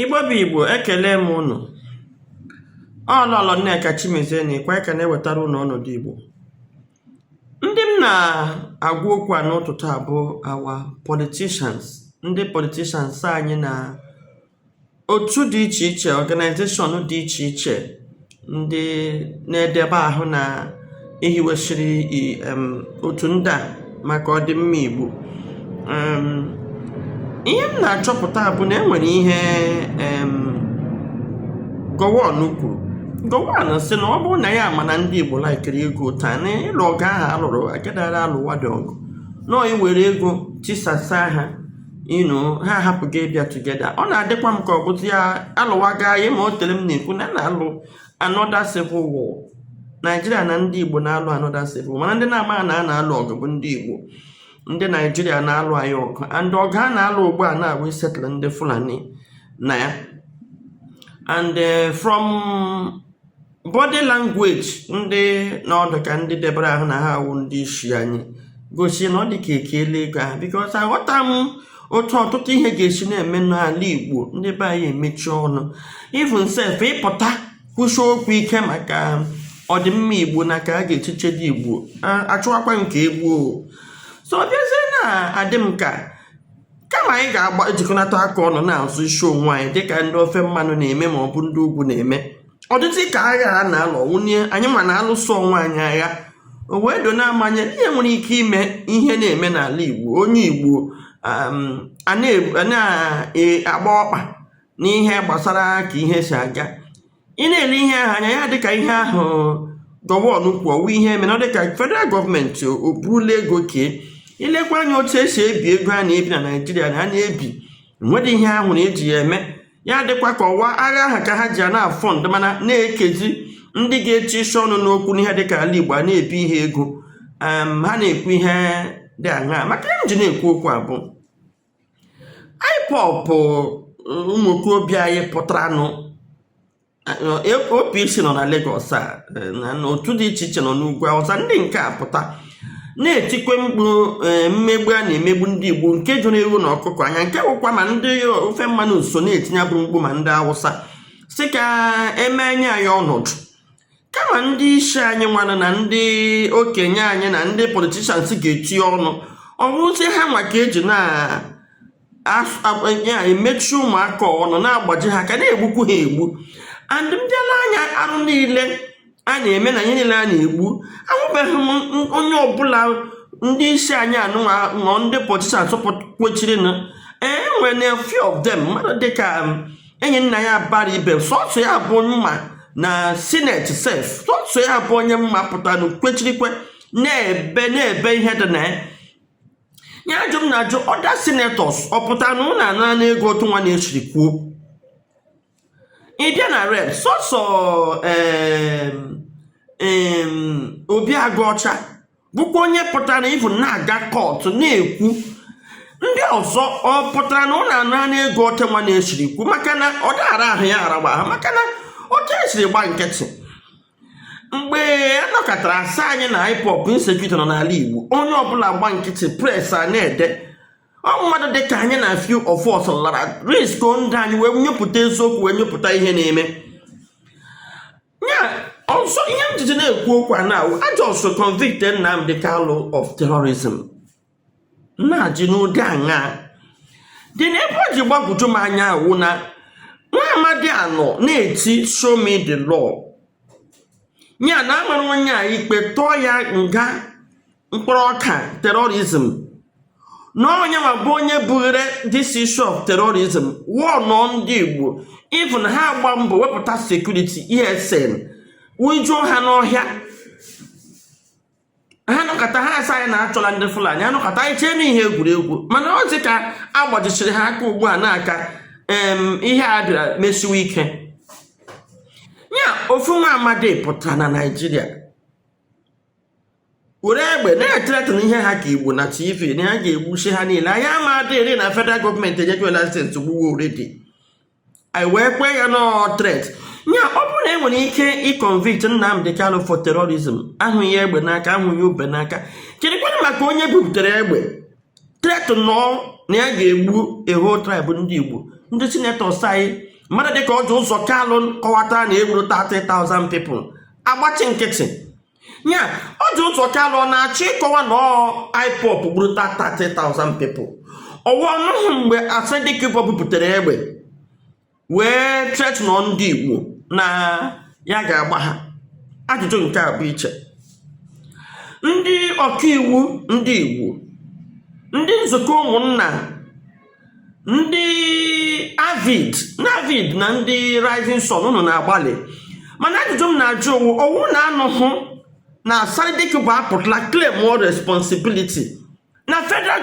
Igbo bụ Igbo ekelee m unu ọ Lọlọ Nneka Chimezie na ikwe ka na-ewetara unu ọnọdụ Igbo ndị m na-agwa okwu a n'ụtụtụ a bụ our politicians ndị politicians anyị na otu dị iche iche organization dị iche iche ndị na-edebe ahụ na e hiwesịrị otu ndị a maka ọdịmma Igbo ihe m na-achọpụta bụ na e nwere ihe Gowon kwuru Gowon sị na ọ bụrụ na ya ma na ndị Igbo laikiri ego otu a na ịlụ ọgụ ahụ a lụrụ agadaghara alụwadị ọgụ na ọ iwere ego tisasa ha you know ha hapụ gị bịa together ọ na-adịkwa m ka ọ bụtụ ya alụwaga ya ma o tere m na-ekwu na a na-alụ another civil war naijiria na ndị igbo na-alụ another civil war mana ndị na-ama na a na-alụ ọgụ bụ ndị igbo ndị naijiria na-alụ anyị ọgụ and ọgụ a na-alụ ugbu a na-abụ isettle ndị Fulani na ya and eh, from body language ndị nọ dị ka ndị debere ahụ na ha awụ ndị isi anyị gosi na ọ dị ka e keele ego ahụ because aghọta m otu ọtụtụ ihe ga-esi na-eme n'ala igbo ndị be anyị emechie ọnụ even sef ịpụta kwusi okwu ike maka ọdịmma igbo na ka a ga-esi chebe igbo achụwakwa nke egbuo so ọ bịazie na-adị m ka kama anyị ga-ejikọnata aka ọnụ na-azọ isi onwe anyị dịka ndị ofe mmanụ na-eme ma ọ bụ ndị ugwu na-eme ọ dịzi ka agha a na-alụ ọ wụ na anyịnwa na-alụso onwe anyị agha o wee dona m anya na ihe nwere ike ime ihe na-eme n'ala Igbo onye Igbo um, a na-agba e, ọkpa n'ihe gbasara ka ihe si aga ị na-ele ihe ahụ anya ya adịka ihe ahụ Gowon kwuru ọ wụ ihe e mere ọ dịka federal government o burula ego kee i lekwa anya otu e si ebi ego a na-ebi na naijiria na a na-ebi nwere ihe a hụrụ e ji ya eme ya adịkwa ka ọ wụ agha ahụ ka ha ji ya na-afund mana na-ekezi ndị ga-echisi ọnụ n'okwu n'ihe dịka ala igbo a na-ebi ihe ego ha na-ekwu ihe dị aṅaa maka ya m ji na-ekwu okwu a bụ IPOB ụmụ okorobịa anyị pụtaranụ OPC nọ na Lagos a na otu dị iche iche nọ n'ugwu Awụsa ndị nke apụta na-etikwa mkpu mmegbu a na-emegbu ndị Igbo nke juru ewu na ọkụkọ anya nke bụkwa ma ndị ofe mmanụ so na-etinye bụ mkpu ma ndị Awụsa sị ka e me anya ya ọnọdụ kama ndị isi anyị nwanụ na ndị okenye anyị na ndị politicians ga-etinye ọnụ ọ bụrụzie ha nwa ka e ji na-emechi ụmụaka ọnụ na-agbaji ha aka na-egbukwu ha egbu and ndị ala anyị arụ niile a na-eme na ihe niile a na-egbu ahụbeghị m onye ọbụla ndị isi anyị anụnwa nọ ndị politicians kwechirinụ e nwere few of them mmadụ dịka Enyinnaya Abaribe sọsọ ya bụ m ma na senate sef sọsọ ya bụ onye m ma pụtara kwechirikwa na-ebe na-ebe ihe dị na ya ya ajụ m na-ajụ other senators ọ pụtara na unu anara ego otu nwa na-esiri kwuo ị bịa na rep sọsọ Obi Aguocha bụkwa onye pụtara ihu na-aga court na-ekwu ndị ọzọ ọ pụtara na unu anara ego otu nwa na-esiri kwu maka na ọ dara ahụ ya aragba ha maka na otu e siri gba nkịtị mgbe a nọkatara asị anyị na IPOB insecurity nọ n'ala Igbo onye ọbụla gba nkịtị press a na-ede ọ mmadụ dị ka anyị na few of us lara risk ndụ anyị wee nyepụta eziokwu wee nyepụta ihe na-eme ya so ihe m jiji na-ekwu okwu a na-awụ a just convict Nnamdi Kanu of terrorism na-ajụ n'ụdị aṅaa dị na ebe o ji gbagwoju m anya awụ na nwa amadi a nọ na-eti show me the law ya na a mara onye a ikpe tụọ ya nga mkpụrụ ọka terrorism na onye ma bụ onye bughere this issue of terrorism wụnụ ndị Igbo even ha agba mbọ wepụta security ESN wụjuo ha n'ọhịa ha nọkata ha asị anyị na a chụla ndị Fulani a nọkata anyị chee na ihe egwuregwu mana ọ dị ka a gbajisiri ha aka ugbu a nke ihe a bịara mesiwe ike ya ofu nwa amadi pụtara na Naịjirịa were egbe na-ethreaten ihe ha ka Igbo na TV na ya ga-egbusi ha niile anyị ama adịrị na federal government enye license gbuwe already anyị wee kwee ya na ọ threat ya ọ bụrụ na e nwere ike ịconvict Nnamdi Kanu for terrorism ahụghị egbe n'aka ahụghị ube n'aka kedụkwanụ maka onye bupụtara egbe threatenụọ na ya ga-egbu a whole tribe ndị Igbo ndị senators anyị mmadụ dịka Orji Uzor Kalu kọwatara na e gburu 30,000 people agbachi nkịtị ya Orji Uzor Kalu ọ na-achọ ịkọwa na ọ IPOB gburu 30,000 people ọ wụ ọ nụhụ mgbe Asari Dokubo bupụtara egbe wee threatenụọ ndị Igbo na ya ga-agba ha ajụjụ m nke a bụ iche ndị ọkaiwu ndị Igbo ndị nzukọ ụmụnna ndị AVID na AVID na ndị Rising Sun unu na-agbalị mana ajụjụ m na-ajụ wụ ọ wụ unu anụhụ na Asari Dokubo apụtala claimụọ responsibility na federal